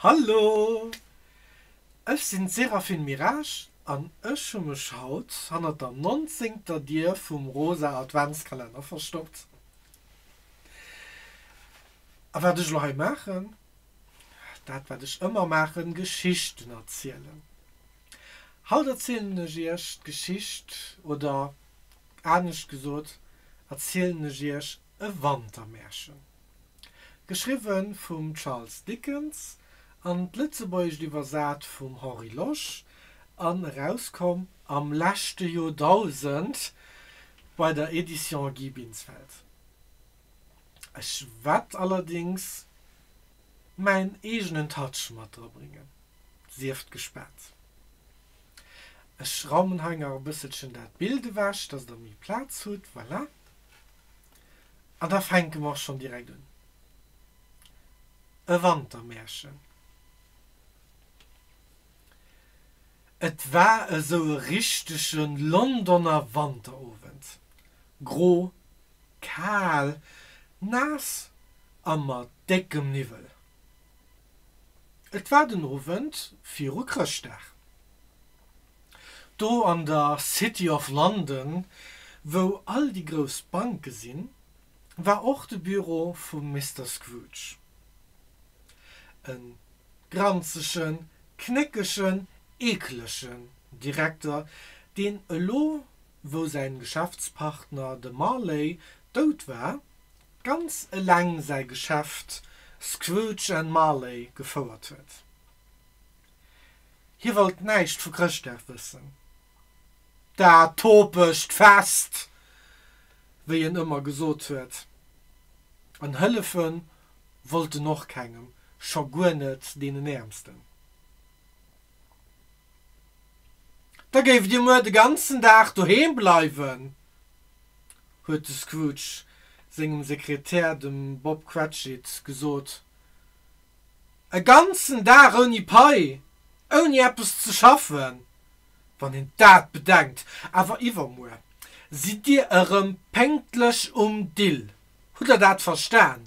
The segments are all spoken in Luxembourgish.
Hallo! Ech sinn d'Séraphine Mirage an ech hu mech haut hannert der nonzéngter Dier vum rosa Adventskalenner verstoppt. A wat ech elo hei maachen? Dat wat ech ëmmer maachen, Geschichten erzielen. Haut erzielen ech iech d'Geschicht oder Anescht gesot erzielen ech iech e Wantermärchen. Geschriwwe vum Charles Dickens an d'Lëtzebuergescht iwwersat vum Henri Losch an erauskomm am leschte Joerdausend bei der Edition Guy Binsfeld. Ech wett allerdings mäin eegenen Touch mat dra bréngen, sieft gespaant. Ech raumen hei nach e bësselchen dat Bild ewech, dass der méi Plaz hutt. Voilà. An da fänke mer och schonn direkt un. E Wantermärchen. Et war esou e richtege Londoner Wanterowend. Gro, kal, naass a mat déckem Niwwel. Et war den Owend viru Chrëschtdag. Do an der City of London, wou all déi grouss Banke sinn, war och de Büro vum Mister Scrooge. E granzegen, knéckegen, eeklegen Direkter, deen elo wou säin Geschäftspartner de Marley dout war, ganz eleng säi Geschäft Scrooge and Marley gefouert huet. Hie wollt näischt vu Chrëschtdag wëssen. Dat topegt Fest, wéi en ëmmer gesot huet, an hëllefe wollt en och kengem, scho guer net deenen Äermsten. Da géift Dir muer de ganzen Dag doheem bleiwen, huet de Scrooge sengem Sekretär, dem Bob Cratchit, gesot. E ganzen Dag ouni Pai, ouni eppes ze schaffen! Wann een dat bedenkt! Awer iwwermuer sidd Dir erëm pénktlech um Dill, hutt Der dat verstan?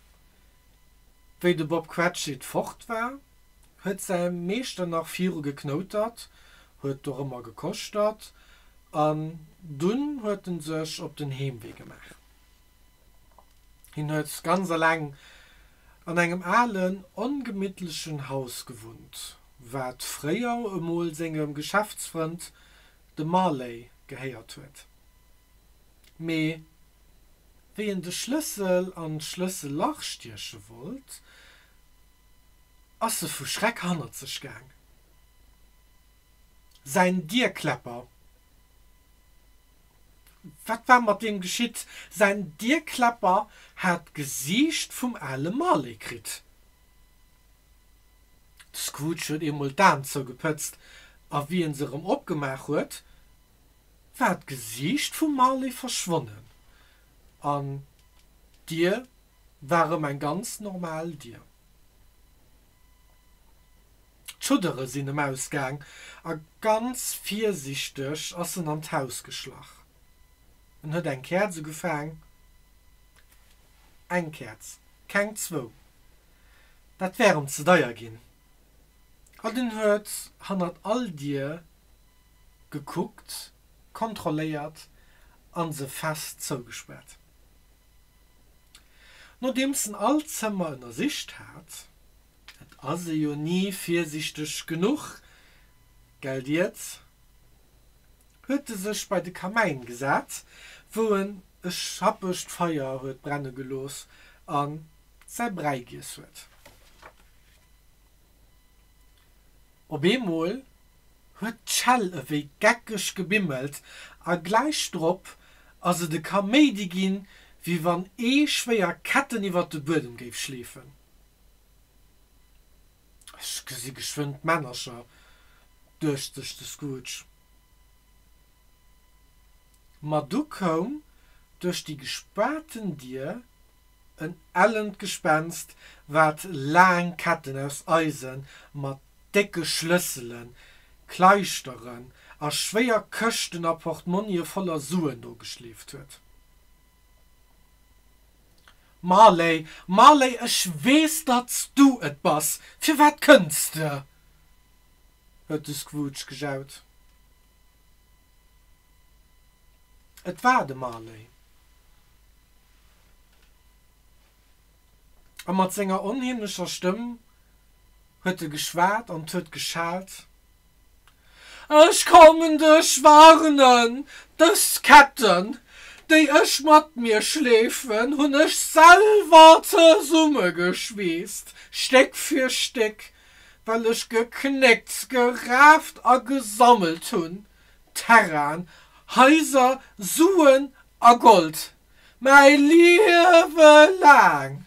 Wéi de Bob Cratchit fort war, huet säi Meeschter nach viru geknoutert, huet dorëmmer gekoschtert an dunn huet en sech op den Heemwee gemaach. Hien huet ganz aleng an engem alen, ongemittlechen Haus gewunnt, wat fréier emol sengem Geschäftsfrënd, dem Marley, gehéiert huet. Mee wéi en de Schlëssel an d'Schlëssellach stieche wollt, ass e vu Schreck hannert sech gaang. Säin Dierkläpper, wat war mat deem geschitt? Säin Dierkläpper hat d'Gesiicht vum ale Marley kritt. De Scrooge huet eemol d'Aen zougepëtzt, a wéi e se erëm opgemaach huet, war d'Gesiicht vum Marley verschwonnen an d'Dier war erëm eng ganz normal Dier. D'Schuddere sinn em ausgaang a ganz virsiichteg ass en an d'Haus geschlach. En huet eng Käerz ugefaang, eng Käerz, keng zwou, dat wär em ze deier ginn, an en huet hannert all Dier gekuckt, kontrolléiert an se fest zougespaart. Nodeems en all Zëmmer ënnersicht hat, et ass e jo ni virsiichteg genuch, gell Dietz? huet e sech bei de Kamäin gesat, wou en e schappegt Feier huet brenne gelooss a säi Bräi giess huet. Op eemol huet d'Shell ewéi geckeg gebimmelt a gläich drop ass et e Kaméidi ginn, wéi wann ee schwéier Ketten iwwert de Buedem géif schleefen. Ech gesi geschwënn d'Männercher, duecht sech de Scrooge. Ma du koum duerch déi gespaarten Dier En ellent Gespenst, wat laang Ketten aus Eise mat décke Schlëssele, Kleischteren a schwéier Këschten a Portmonnien voller Suen nogeschleeft huet. Marley, Marley, ech weess, datt s du et bass, firwat kënns de? huet de Scrooge gejaut. Et war de Marley. A mat senger onheemlecher Stëmm huet e geschwat an huet geschalt, Ech kommen dech warnen! Dës Ketten, déi ech mat mir schleefen, hunn ech selwer zesummegeschweesst, Stéck fir Stéck, well ech geknéckt, geraaft a gesammelt hunn, Terrainen, Haiser, Suen a Gold, mäi Liewe laang.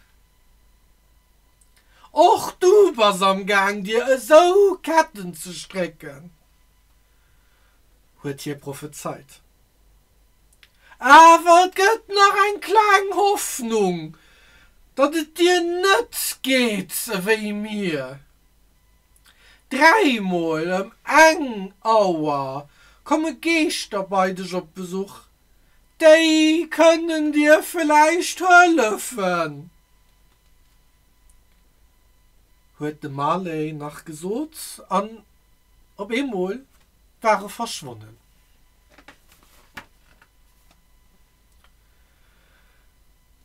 Och du bass am Gaang, dir esou Ketten ze strécken, huet hie prophezeit. Awer et gëtt nach eng kleng Hoffnung, datt et dir net geet ewéi mir. Dräimol ëm eng Auer komme Geeschter bei dech op Besuch. Déi kënnen dir vläicht hëllefen, huet de Marley nach gesot an op eemol war e verschwonnen.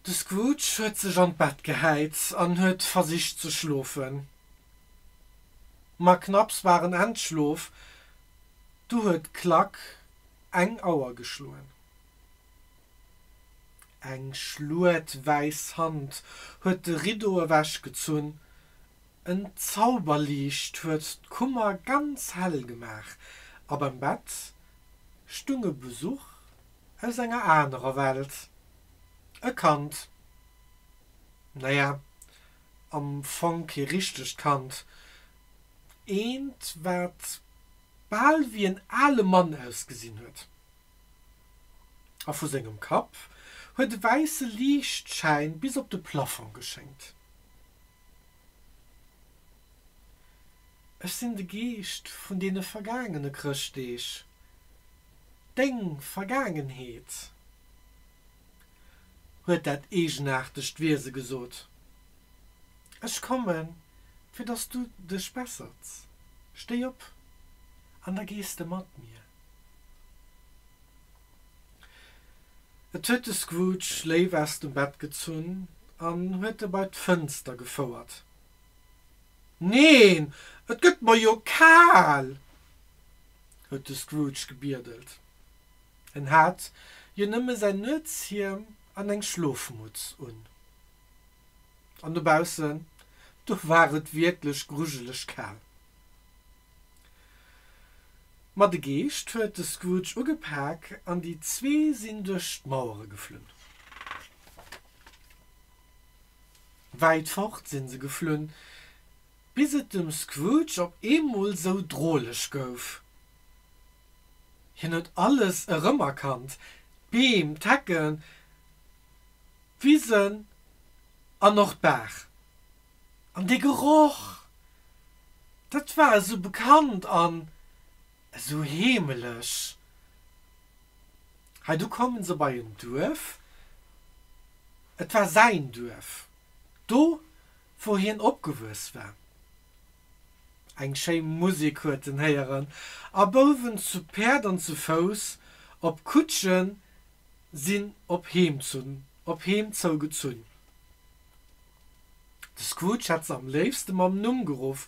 De Scrooge huet sech an d'Bett gehäit an huet versicht ze schlofen. Ma knapps war en entschlof, du huet d'Klack eng Auer geschloen. Eng schluet wäiss Hand huet de Riddo ewechgezunn En Zauberliicht huet d'Kummer ganz hell gemaach, a beim Bett stung e Besuch aus enger anerer Welt, e Kand, naja, am Fong kee richtegt Kand, eent, wat bal wéi en ale Mann ausgesinn huet. A vu sengem Kapp huet e wäisse Liichtschäin bis op de Plaffong geschéngt. Ech sinn de Geescht vun deene vergaangene Chrëschtdeeg, deng Vergaangenheet, huet dat eegenaartegt Wiese gesot. Ech kommen, fir dass du dech bessers. Stéi op an da gees de mat mir. Et huet de Scrooge léif aus dem Bett gezunn an huet e bei d'Fënster gefouert. Neen, et gëtt mer jo kal! huet de Scrooge gebiedelt. En hat jo nëmme säin Nuetshiem an eng Schlofmutz un. An dobaussen, do war et wierklech grujeleg kal. Ma de Geescht huet de Scrooge ugepak an déi zwee sinn duerch d'Mauere geflunn. Wäit fort sinn se geflunn, bis et dem Scrooge op eemol sou droleg gouf. Hien huet alles erëmerkannt, d'Beem, d'Hecken, d'Wisen an och d'Baach. An dee Geroch, dat war esou bekannt an esou heemeleg. Heidu komme se bei en Duerf, et war säin Duerf, do wou hien opgewuess war. Eng schéi Musek huet en héieren a Bouwen zu Päerd an zu Fouss op Kutsche sinn op heem zou gezunn. De Scrooge hätt se am léifste mam Numm geruff,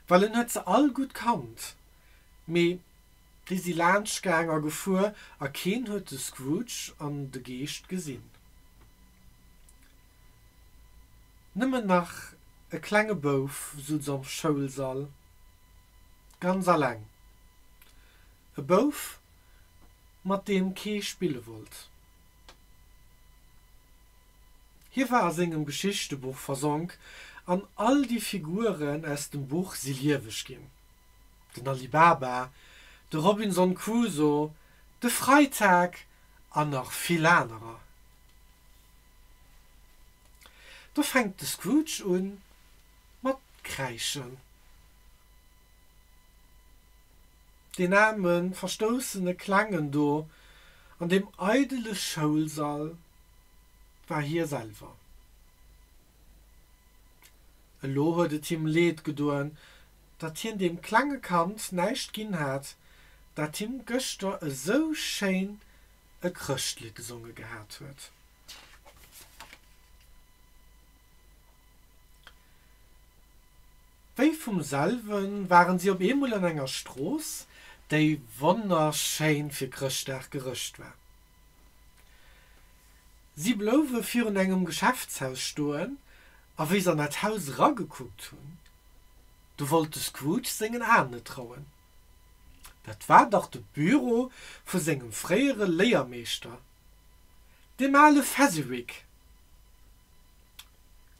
well en huet se all gutt kannt. Mee déi si laanscht gaang a gefuer, a keen huet de Scrooge an de Geescht gesinn. Nëmmen nach e klenge Bouf suz am Schoulsall, ganz aleng. E Bouf, mat deem kee spille wollt. Hie war a sengem Geschichtebuch versonk an all déi Figuren aus dem Buch si lieweg ginn, den Ali Baba, de Robinson Crusoe, de Freitag an nach vill anerer. Do fänkt de Scrooge u mat kräischen. Deen aarme verstoussene Klengen do an deem eidele Schoulsall. war hie selwer. Elo huet et him Leed gedoen, datt hien deem klenge Kand näischt ginn hat, dat him gëschter esou schéin e Chrëschtlidd gesonge gehat huet. Wéi vum selwe waren si op eemol an enger Strooss, déi wonnerschéin fir Chrëschtdag gerëscht war. Si blouwe virun engem Geschäftshaus stoen, a wéi se an dat Haus eragekuckt hunn, do wollt de Scrooge sengen Aen net trauen. Dat war dach de Büro vu sengem fréiere Léiermeeschter, deem ale Fezziwig!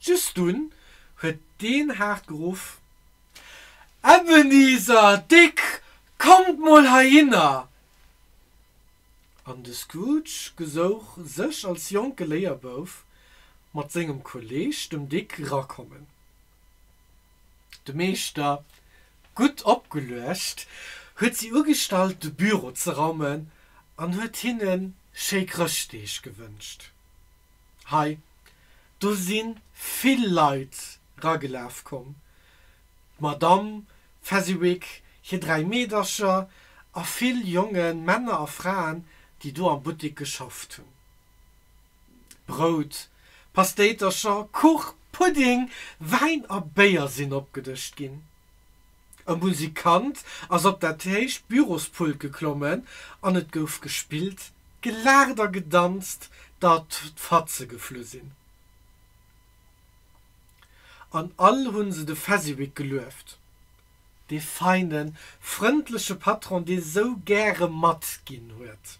Just dunn huet deen haart geruff, Ebenezer, Dick, kommt mol heihinner! An de Scrooge gesouch sech als jonke Léierbouf mat sengem Kolleeg dem Dick rakommen. De Meeschter, gutt opgeluecht, huet si ugestallt de Büro ze raumen an huet hinne schéi Chrëschtdeeg gewënscht. Hei do si vill Leit ragelaf komm, d'Madamm Fezziwig, hir dräi Meedercher a vill jonge Männer a Fraen, déi do am Buttik geschafft hunn. Brout, Pastéitercher, Kuch, Pudding, Wäin a Béier sinn opgedëscht ginn. E Musikant ass op dat héicht Bürospult geklommen an et gouf gespillt, gelaacht a gedanzt, datt d'Fatze geflu sinn. an all hunn se de Fezziwig gelueft, dee feine, frëndleche Patron, dee sou gäre matginn huet.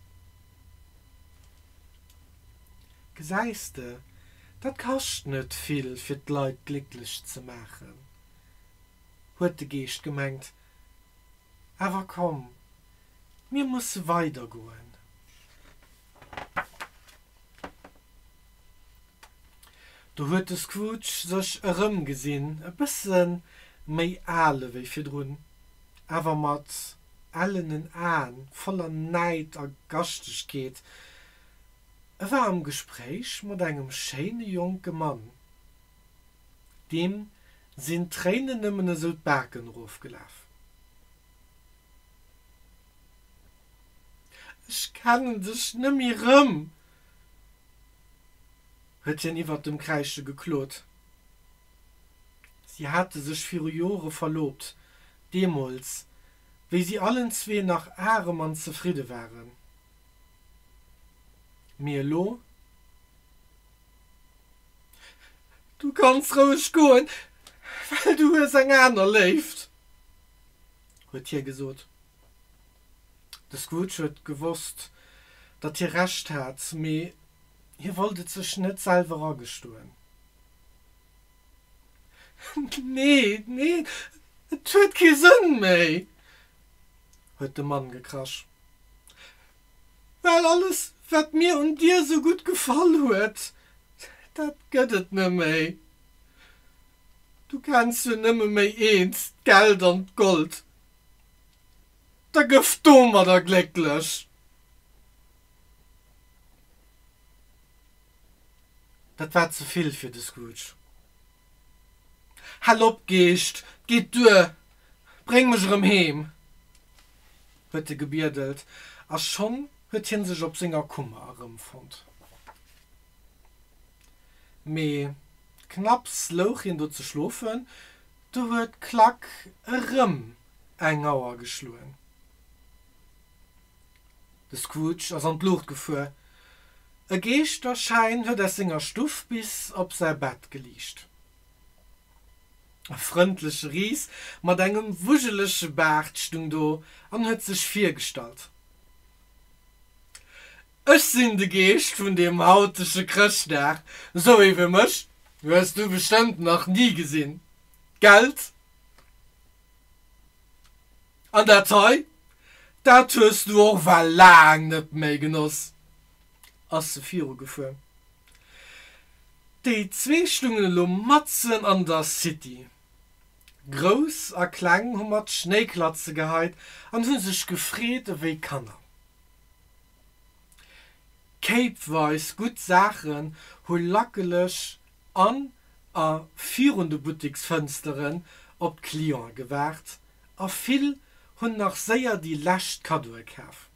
Gesäis de, dat kascht net vill, fir d'Leit glécklech ze maachen, huet de Geescht gemengt. Awer komm, mir musse weidergoen. Do huet de Scrooge sech erëmgesinn, e bësse méi ale wéi virdrun, awer mat ellenen Aen, voller Näid a Gaschtegkeet. E war am Gespréich mat engem schéine jonke Mann. Deem sinn d'Tréinen nëmmen esou d'Baken erofgelaf. Ech kennen dech nëmme rëm! huet hien iwwert dem Kräische geklot. Si hate sech viru Jore verloobt, deemools, wéi si allen zwee nach arem an zefridde waren. Mee elo? Du kanns roueg goen, well du hues eng aner Léift, huet hie gesot. De Scrooge huet gewosst, datt hie Recht hat, mee hie wollt et sech net selwer agestoen. Nee, nee, et huet kee Sënn méi! huet de Mann gekrasch. Well alles, wat mir un dir esou gutt gefall huet, dat gëtt et neméi. Du kenns jo nëmme méi eent, d'Geld an d'Gold. da gëff domadder glécklech. Dat war ze vill fir de Scrooge. Hal op, Geescht, 't geet duer, bréng mech erëm heem! huet e gebiedelt, a schonn huet hie sech op senger Kummer erëmfonnt. Mee knapps louch hien do ze schlofen, Do huet d'Klack erëm eng Auer geschloen. De Scrooge ass an d'Luucht gefuer. E Geeschterschäin huet aus senger Stuff bis op säi Bett geliicht. E frëndleche Ris mat engem wujelege Baart stung do an huet sech virgestallt. Ech sinn de Geescht vun deem hautege Chrëschtdag. Sou ee wéi mech hues du bestëmmt nach ni gesinn, gellt? An dat hei, dat hues du och well laang net méi genoss, ass se virugefuer. Déi zwee stungen elo matzen an der City. Grouss a Kleng hu mat Schnéiklatze geheit an hu sech gefreet ewéi Kanner. Kéipweis gutt Saachen hu lackelech an a virun de Butteksfënsteren op d'Cliente gewaart a vill hunn nach séier déi lescht Kaddoe kaf.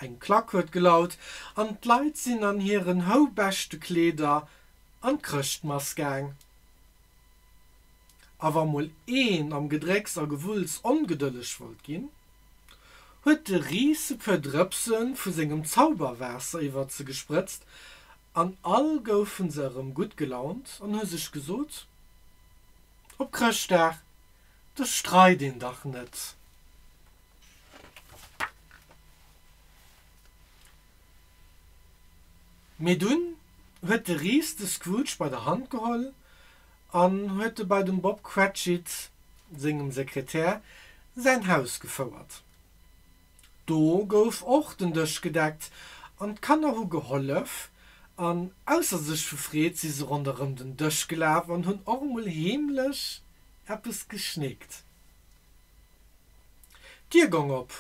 Eng Klack huet gelaut an d'Leit sinn an hiren hou beschte Kleeder an d'Chrëschtmass gaang. A wa mol een am Gedrécks a Gewulls ongedëlleg wollt ginn, huet de Riiseke Drëpse vu sengem Zauberwaasser iwwer se gesprëtzt an all goufe se erëm gutt gelaunt an hu sech gesot, Op Chrëschtdag, do streit een dach net. Mee dunn huet de Ris de Scrooge bei der Hand geholl an huet e bei dem Bob Cratchit, sengem Sekretär, säin Haus gefouert. Do gouf och den Dësch gedeckt an d'Kanner hu gehollef, an ausser sech vu Freed si se ronderëm den Dësch gelaf an hunn och emol heemlech eppes geschnéckt. D'Dier gong op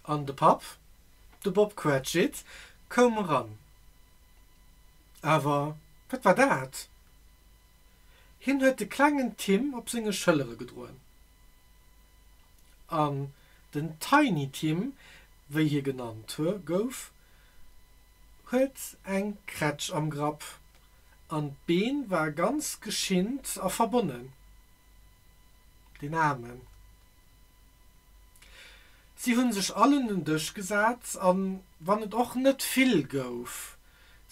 an de Papp De Bob Cratchit koum eran. Awer wat war dat? Hien huet de klengen Tim op senge Schëllere gedroen. An den Tiny Tim, wéi hie genannt gouf, huet eng Krätsch am Grapp an d'Been war ganz geschinnt a verbonnen. Deen Aarmen. Si hunn sech all un den Dësch gesat, an wann et och net vill gouf,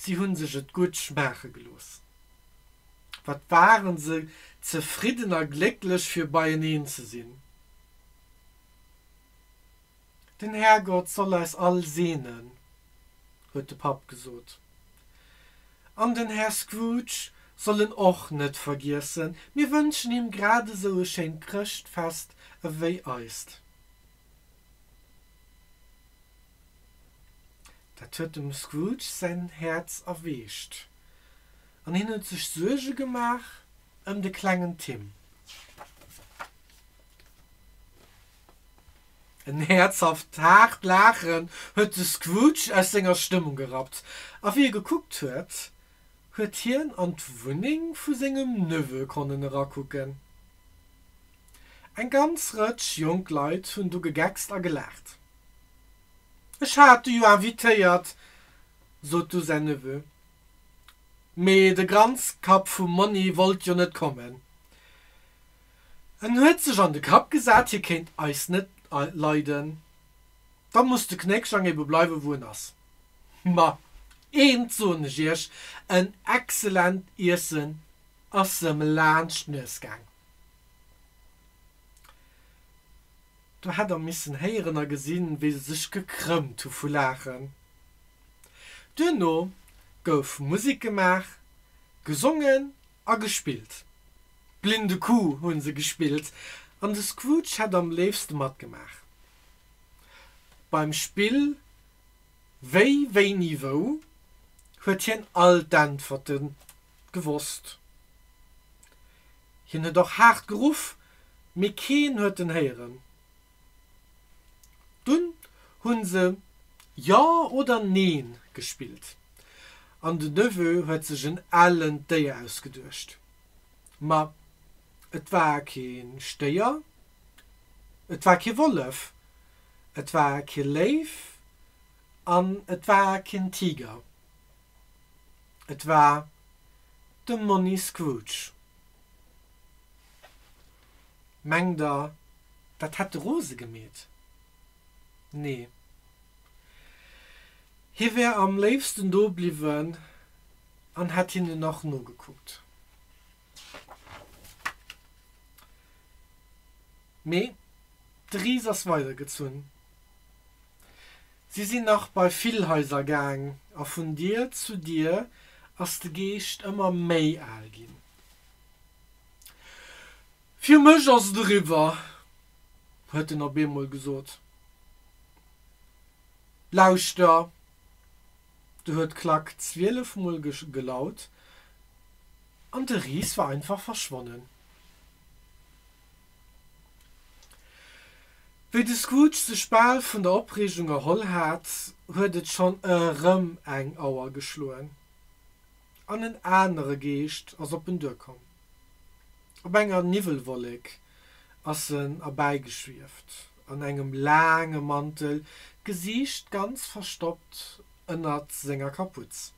si hunn sech et gutt schmaache gelooss. Wat waren se zefridden a glécklech fir beieneen ze sinn. Den Härgott soll eis all seenen, huet de Papp gesot. An den Här Scrooge soll en och net vergiessen. Mir wënschen him grad esou e schéint Chrëschtfest ewéi eist. Dat huet dem Scrooge säin Häerz erweecht, an hien huet sech Suerge gemaach ëm de klengen Tim. En häerzhaft, haart Laachen huet de Scrooge aus senger Stëmmung gerappt, a wéi e gekuckt huet, huet hien an d'Wunneng vu sengem Neveu konnen erakucken. Eng ganz Rëtsch jonk Leit hunn do gegeckst a gelaacht. Ech hat de jo invitéiert, sot du säin Neveu, mee de Granzkapp vum Monni wollt jo net kommen. En huet sech an de Kapp gesat, hie kéint eis net leiden. Da muss de Knéckschlang ebe bleiwe wou en ass. Ma eent soen ech iech, en excellent Iessen ass em laanscht d'Nues gaang. Do hätt der missen héieren a gesinn, wéi se sech gekrëmmt hu vu Laachen. Duerno gouf Musek gemaach, gesongen a gespillt. D'blinde Kuh hunn se gespillt an de Scrooge hätt am léifste matgemaach. Beim Spill Wéi, Wéini, Wou huet hien all d'Äntwerte gewosst. Hien huet och haart geruff, mee keen huet en héieren. Dunn hu se Ja oder Neen gespillt an de Neveu huet sech en ellent Déier ausgeduecht. Ma et war keen Stéier, et war kee Wollef, et war kee Léif an et war keen Tiger. Et war de Monni Scrooge. Mengt der, dat hätt de Rose gemeet? Nee. Hie wär am léifsten do bliwwen an hätt hinnen nach nogekuckt. Mee de Ris ass weidergezunn. Si sinn nach bei vill Haiser gaang a vun Dier zu Dier ass de Geescht ëmmer méi al ginn. Fir mech ass et eriwwer, huet en op eemol gesot. Lauschter, do huet d'Klack zwielef Mol gelaut an de Ris war einfach verschwonnen. Wéi de Scrooge sech bal vun der Opreegung erholl hat, huet et schonn erëm eng Auer geschloen. An en anere Geescht ass op en duerkomm. Op enger Niwwelwollek ass en erbäigeschwieft, an engem laange Mantel, d'Gesiicht ganz verstoppt ënnert senger Kaputz.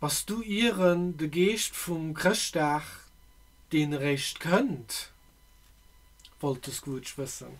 Bass du ieren de Geescht vum Chrëschtdag, deen eréischt kënnt? wollt de Scrooge wëssen.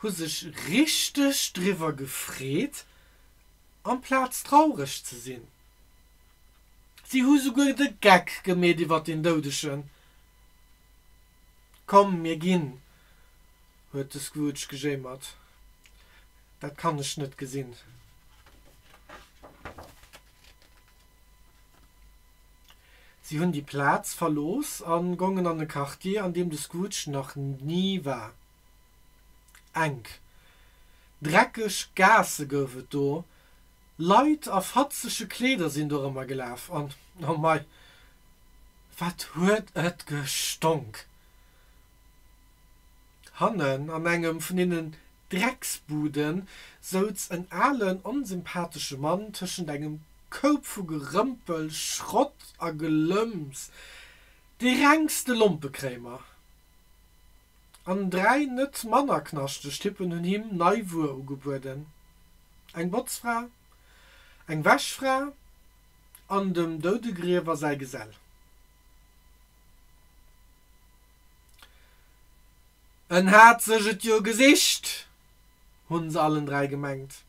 hu sech richteg driwwer gefreet, amplaz traureg ze sinn. Si hu souguer de Geck gemeet iwwer den Doudegen. Komm, mir ginn, huet de Scrooge gejéimert. Dat kann ech net gesinn. Si hunn déi Plaz verlooss a gongen an e Quartier, an deem de Scrooge nach ni war. Enk, dreckeg Gaasse gouf et do, Leit a fatzege Kleeder sinn dorëmmer gelaf, an, oh mei, wat huet et gestonk! Hannen an engem vun deenen Drecksbude souz en alen, onsympathesche Mann tëschent engem Koup vu Gerëmpel, Schrott a Gelëmps, de rengste Lompekréimer. An dräi net manner knaschteg Typpen hunn him nei Wuer ugebueden, eng Botzfra, eng Wäschfra an dem Doudegriewer säi Gesell. En hat sech et jo gesicht, hunn se allen dräi gemengt.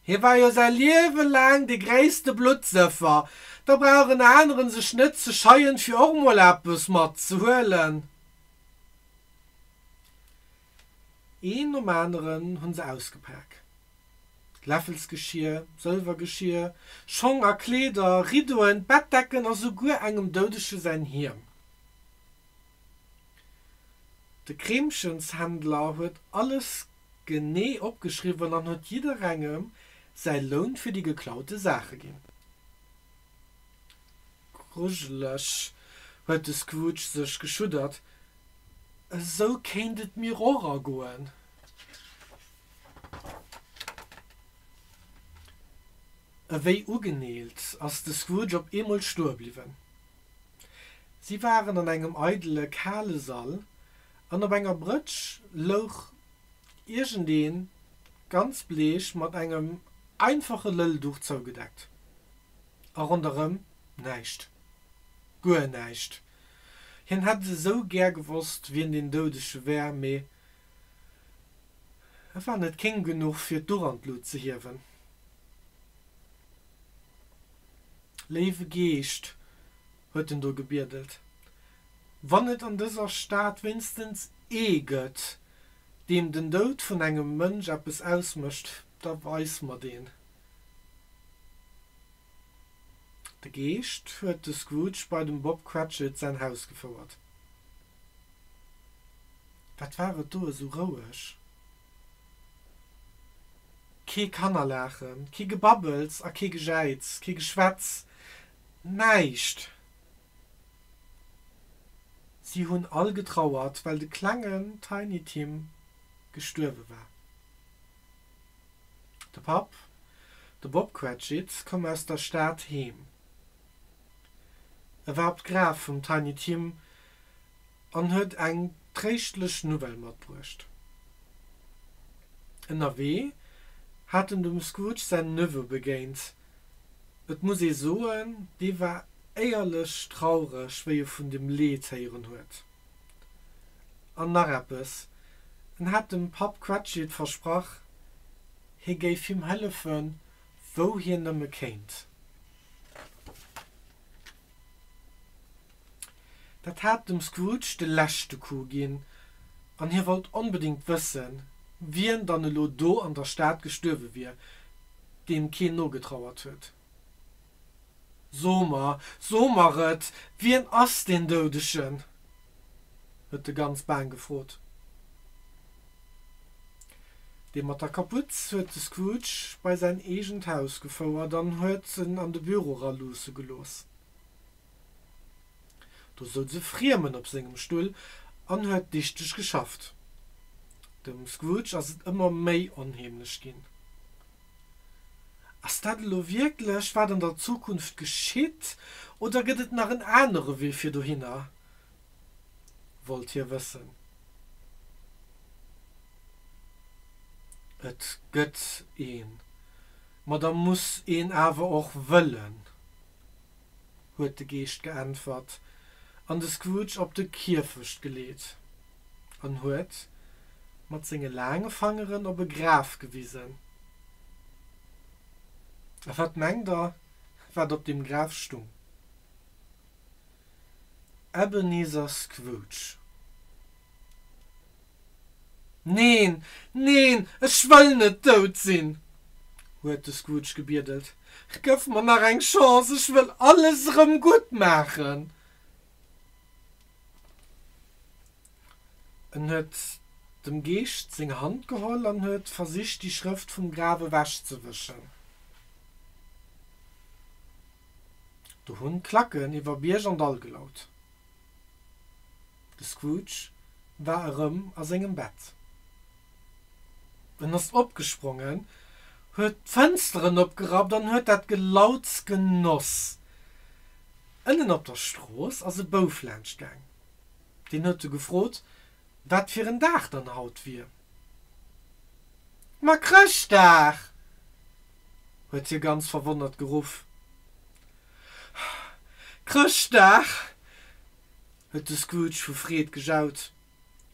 Hie war jo säi Liewe laang de gréisste Bluttsëffer, da brauch en aneren sech net ze scheien, fir och mol eppes matzehuelen. Een nom aneren hu se ausgepak, Läffelsgeschier, Sëlwergeschier, Schong a Kleeder, Riddoen, Bettdecken a souguer engem Doudege säin Hiem. De Kreemchenshändler huet alles genee opgeschriwwen an huet jidderengem säi Loun fir déi geklaute Saache ginn. Grujelech, huet de Scrooge sech geschuddert. Esou kéint et mir och ergoen. Ewéi ugeneelt ass de Scrooge op eemol stoe bliwwen. Si waren an engem eidele kale Sall, an op enger Brëtsch louch iergendeen, ganz bleech, mat engem einfache Lëllduch zougedeckt. A ronderëm näischt. Guer näischt. Hien hätt et esou gär gewosst, wien deen Doudege wär, mee et war net kéng genuch, fir d'Uch an d'Lut ze hiewen. Léiwe Geescht, huet en do gebiedelt, wann et an dëser Stad wéinstens ee gëtt, deem den Doud vun engem Mënsch eppes ausmécht, da weis mer deen. De Geescht huet de Scrooge bei dem Bob Cratchit säin Haus gefouert. Wat war et do esou roueg? Kee Kannerlaachen, kee Gebabbels a kee Gejäiz, kee Geschwätz, näischt! Si hunn all getrauert, well de klengen Tiny Tim gestuerwe war. De Papp, de Bob Cratchit, koum aus der Stad heem. E war op d'Graf vum Tiny Tim an huet eng tréischtlech Nouvelle matbruecht. Ënnerwee hat en dem Scrooge säin Neveu begéint. Et muss ee soen, dee war éierlech traureg, wéi e vun dem Leed héieren huet. An nach eppes, en hat dem Papp Cratchit versprach, hie géif him hëllefe wou hien nëmme kéint. Dat hat dem Scrooge de leschte Coup ginn, an hie wollt onbedéngt wëssen, wien dann elo do an der Stad gestuerwe wier, deem keen nogetrauert huet. So mer, so mer et, wien ass deen Doudegen? huet de ganz baang gefrot. Dee mat der Kaputz huet de Scrooge bei säin eegent Haus gefouert an huet en an de Büro eraluusse gelooss. Do souz e Friemen op sengem Stull an huet dichteg geschafft. Dem Scrooge ass et ëmmer méi onheemlech ginn. Ass dat elo wierklech, wat an der Zukunft geschitt, oder gëtt et nach en anere Wee fir dohinner? wollt hie wëssen. Et gëtt een, ma da muss een awer och wëllen. huet de Geescht geäntwert an de Scrooge op de Kierfecht geleet an huet mat senge laange Fangeren op e Graf gewisen. A wat mengt der, wat op deem Graf stung? Ebenezer Scrooge. Neen, neen, ech wëll net dout sinn! huet de Scrooge gebiedelt. Gëff mer nach eng Chance, ech wëll alles erëm gutt maachen! En huet dem Geescht seng Hand geholl an huet versicht, déi Schrëft vum Graf ewechzewëschen. Do hunn d'Klacken iwwer Bierg an Dall gelaut. De Scrooge war erëm a sengem Bett. En ass opgesprongen, huet d'Fënsteren opgerappt an huet dat Gelauts genoss. Ënnen op der Strooss ass e Bouf laanschtgaang. Deen huet e gefrot, wat fir en Dag dann haut wier. Ma Chrëschtdag! huet hie ganz verwonnert geruff. Chrëschtdag! huet de Scrooge vu Freed gejaut,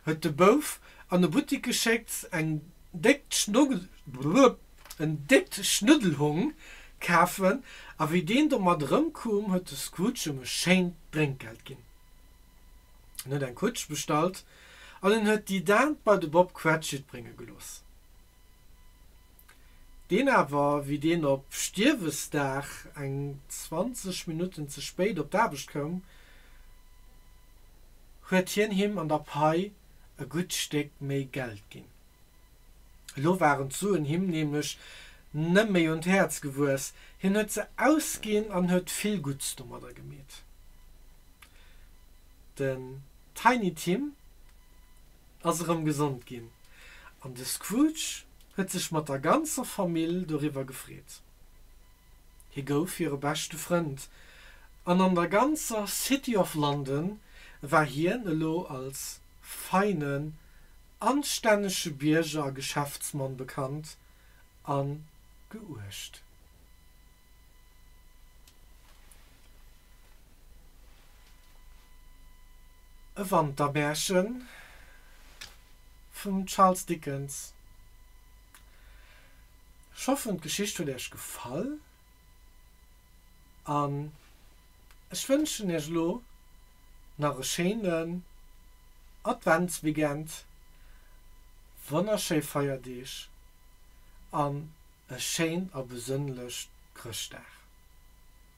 huet de Bouf an e Buttik geschéckt, en déckt Schnuddelhong kafen, a wéi deen domat erëmkoum, huet de Scrooge em e schéint Drénkgeld ginn. En huet eng Kutsch bestallt an en huet déi Daan bei de Bob Cratchit brénge gelooss. deen awer wéi deen op Stierwesdag eng 20 Minutten ze spéit op d'Aarbecht koum, huet hien him an der Pai e gutt Stéck méi Geld ginn. Elo waren d'Suen him nämlech nëmméi un d'Häerz gewuess, hien huet se ausginn an huet vill Gutts domadder gemeet. Den Tiny Tim ass erëm gesond ginn an de Scrooge huet sech mat der ganzer Famill doriwwer gefreet. Hie gouf hire beschte Frënd an an der ganzer City of London war hien elo als feinen, anstännege Bierger a Geschäftsmann bekannt a geuecht. E Wantermärche vum Charles Dickens. Ech hoffen d'Geschicht huet iech gefall an ech wënschen iech elo nach e schéinen Adventsweekend, wonnerschéi Feierdeeg an e schéin a besënnlecht Chrëschtdag.